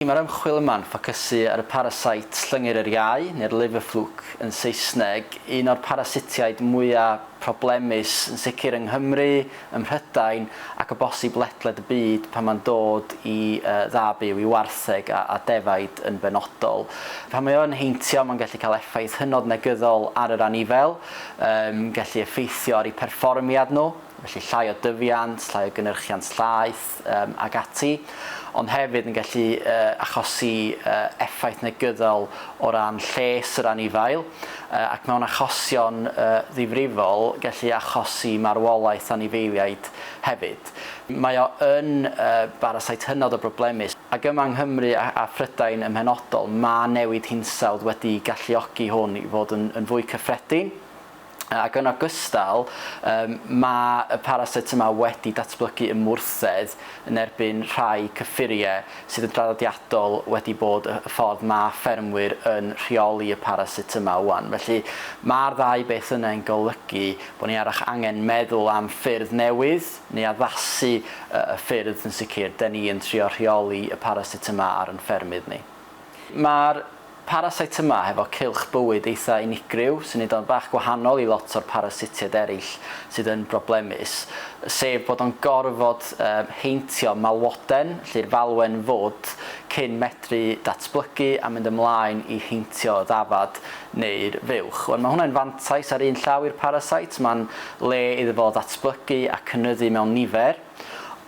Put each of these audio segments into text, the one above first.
Mae'r ymchwil yma'n ffocysu ar y parasite llyngyr yr iau, neu'r liver fluke yn Saesneg, un o'r parasitiaid mwya' problemus yn sicr yng Nghymru, ym Mhrydain ac o bosib ledled y byd pan mae'n dod i dda byw, i wartheg a defaid yn benodol. Pan mae o yn heintio mae'n gallu cael effaith hynod negyddol ar yr anifail, yn gallu effeithio ar eu perfformiad nhw. felly llai o dyfiant, llai o gynyrchiant llaeth um, ac ati, ond hefyd yn gallu uh, achosi uh, effaith negyddol o ran lles yr anifail uh, ac mewn achosion uh, ddifrifol gallu achosi marwolaeth anifeiliaid hefyd. Mae o yn uh, barasait hynod o broblemus ac yma yng Nghymru a, a Phrydain ym mhenodol mae newid hinsawdd wedi galluogi hwn i fod yn, yn fwy cyffredin. Ac yn ogystal, mae y parasit yma wedi datblygu ymwrthedd yn erbyn rhai cyffuriau sydd yn draddodiadol wedi bod y ffordd mae ffermwyr yn rheoli y parasit yma ŵan. Felly, mae'r ddau beth yna yn golygu bod ni arach angen meddwl am ffyrdd newydd, neu addasu y ffyrdd yn sicr, 'den ni yn trio rheoli y parasit yma ar yn ffermydd ni. Mae'r Paracytma hefo cylch bywyd eitha unigryw sy'n neud o'n bach gwahanol i lot o'r parasitiaid eraill sydd yn broblemus, sef bod o'n gorfod heintio malwoden, lle'r falwen fod, cyn medru datblygu a mynd ymlaen i heintio y ddafad neu'r fuwch. Wan, mae hwnna'n fantais ar un llaw i'r parasite, mae'n le iddo fo ddatblygu a cynyddu mewn nifer,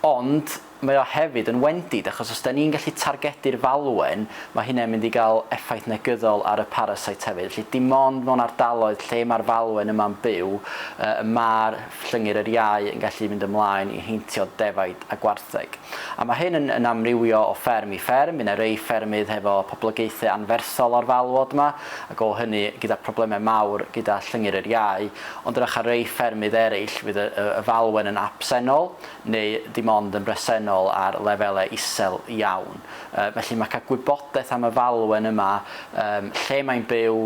ond Mae o hefyd yn wendid achos os 'da ni'n gallu targedu'r falwen, mae hynna'n mynd i gael effaith negyddol ar y parasite hefyd. Felly dim ond mewn ardaloedd lle mae'r falwen yma'n byw y mae'r llyngyr yr iau yn gallu mynd ymlaen i heintio defaid a gwartheg. A mae hyn yn amrywio o fferm i fferm, mae 'na rei ffermydd hefo poblogaethau anferthol o'r falwod 'ma ac o hynny gyda problemau mawr gyda llyngyr yr iau, ond rach ar rei ffermydd eraill fydd y falwen yn absennol neu dim ond yn bresennol ar lefelau isel iawn. Felly mae cael gwybodaeth am y falwen yma, lle mae'n byw,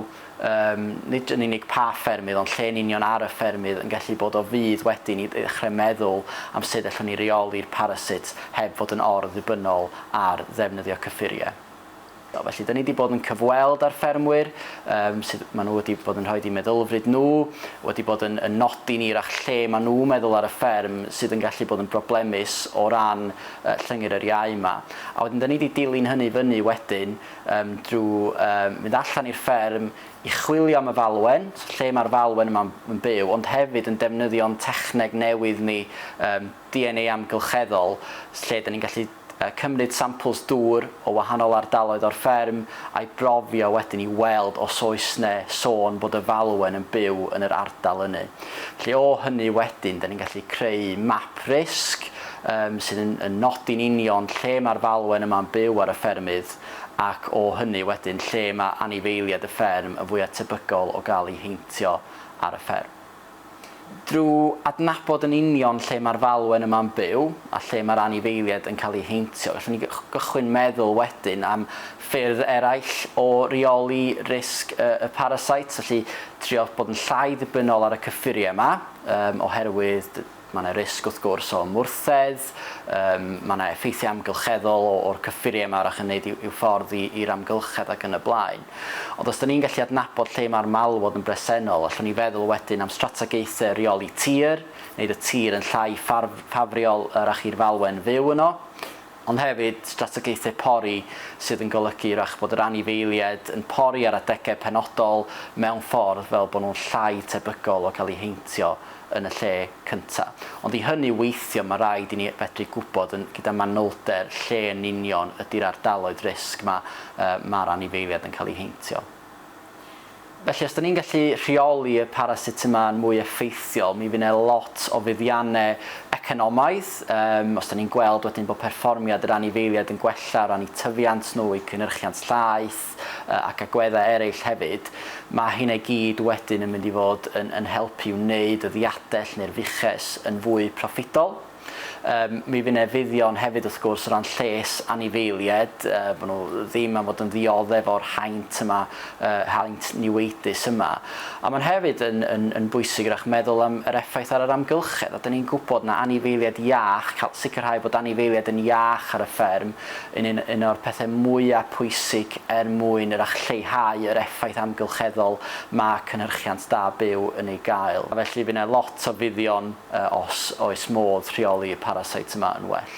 nid yn unig pa ffermydd ond lle yn union ar y ffermydd yn gallu bod o fudd wedyn i ddechrau meddwl am sut allwn ni reoli'r parasit heb fod yn or-ddibynnol ar ddefnyddio cyffuriau. Do, felly dyn ni wedi bod yn cyfweld â'r ffermwyr um, sydd maen nhw wedi bod yn rhoi i meddylfryd nhw, wedi bod yn, yn nodi ni rach lle maen nhw'n meddwl ar y fferm sydd yn gallu bod yn broblemus o ran uh, llyngyr yr iau yma. A wedyn dyn ni wedi dilyn hynny fyny wedyn um, drwy um, mynd allan i'r fferm i chwilio am y falwen, lle mae'r falwen yma'n byw, ond hefyd yn defnyddio'n techneg newydd ni um, DNA amgylcheddol, lle dan ni'n gallu cymryd sampls dŵr o wahanol ardaloedd o'r fferm a'i brofio wedyn i weld os oes 'na sôn bod y falwen yn byw yn yr ardal ynny. Felly o hynny wedyn dan ni'n gallu creu map risg yym sydd yn yn nodi'n union lle mae'r falwen yma'n byw ar y ffermydd ac o hynny wedyn lle mae anifeiliaid y fferm yn fwya' tebygol o gael eu heintio ar y fferm. Drwy adnabod yn union lle mae'r falwen yma'n byw a lle mae'r anifeiliaid yn cael eu heintio, gallwn ni gychwyn meddwl wedyn am ffyrdd eraill o reoli risg y parasite, felly trio bod yn llai ddibynnol ar y cyffuriau yma, oherwydd Mae yna risg wrth gwrs o ymwrthedd, yym mae yna effeithiau amgylcheddol o, o'r cyffuriau yma arach yn neud i'w, i'w ffordd i, i'r amgylchedd ac yn y blaen. Ond os da ni'n gallu adnabod lle mae'r malwod yn bresennol, allwn ni feddwl wedyn am strategaethau rheoli tir, wneud y tir yn llai ffafriol arach i'r falwen fyw yno, ond hefyd strategaethau pori sydd yn golygu 'w'rach bod yr anifeiliaid yn pori ar adegau penodol mewn ffordd fel bod nhw'n llai tebygol o gael eu heintio yn y lle cyntaf. Ond i hynny weithio mae rhaid i ni fedru gwybod yn gyda manylder lle yn union ydy'r ardaloedd risg 'ma yy ma'r anifeiliaid yn cael eu heintio. Felly, os 'da ni'n gallu rheoli y parasitemau yn mwy effeithiol, mi fydd 'na lot o fuddiannau economaidd. Yym, os 'da ni'n gweld wedyn bod perfformiad yr anifeiliaid yn gwella o ran eu tyfiant nhw, eu cynhyrchiant llaeth, yy ac agweddau eraill hefyd, ma' hynna i gyd wedyn yn mynd i fod yn yn helpu i wneud y ddiadell neu'r fuches yn fwy proffidol. Yym, mi fy' 'ne fuddion hefyd wrth gwrs o ran lles anifeilied, yy bo' nhw ddim am fod yn ddiodde' fo'r haint yma, yy haint niweidus yma. A ma'n hefyd yn yn yn bwysig 'w'rach meddwl am yr effaith ar yr amgylchedd, a 'dan ni'n gwbod na anifeilied iach, ca'l sicrhau bod anifeilied yn iach ar y fferm yn un un o'r pethe mwya' pwysig er mwyn 'w'rach lleihau yr effaith amgylcheddol ma' cynhyrchiant da byw yn ei gael. A felly fy' 'ne lot o fuddion a os oes modd rheoli y paraseit yma yn well.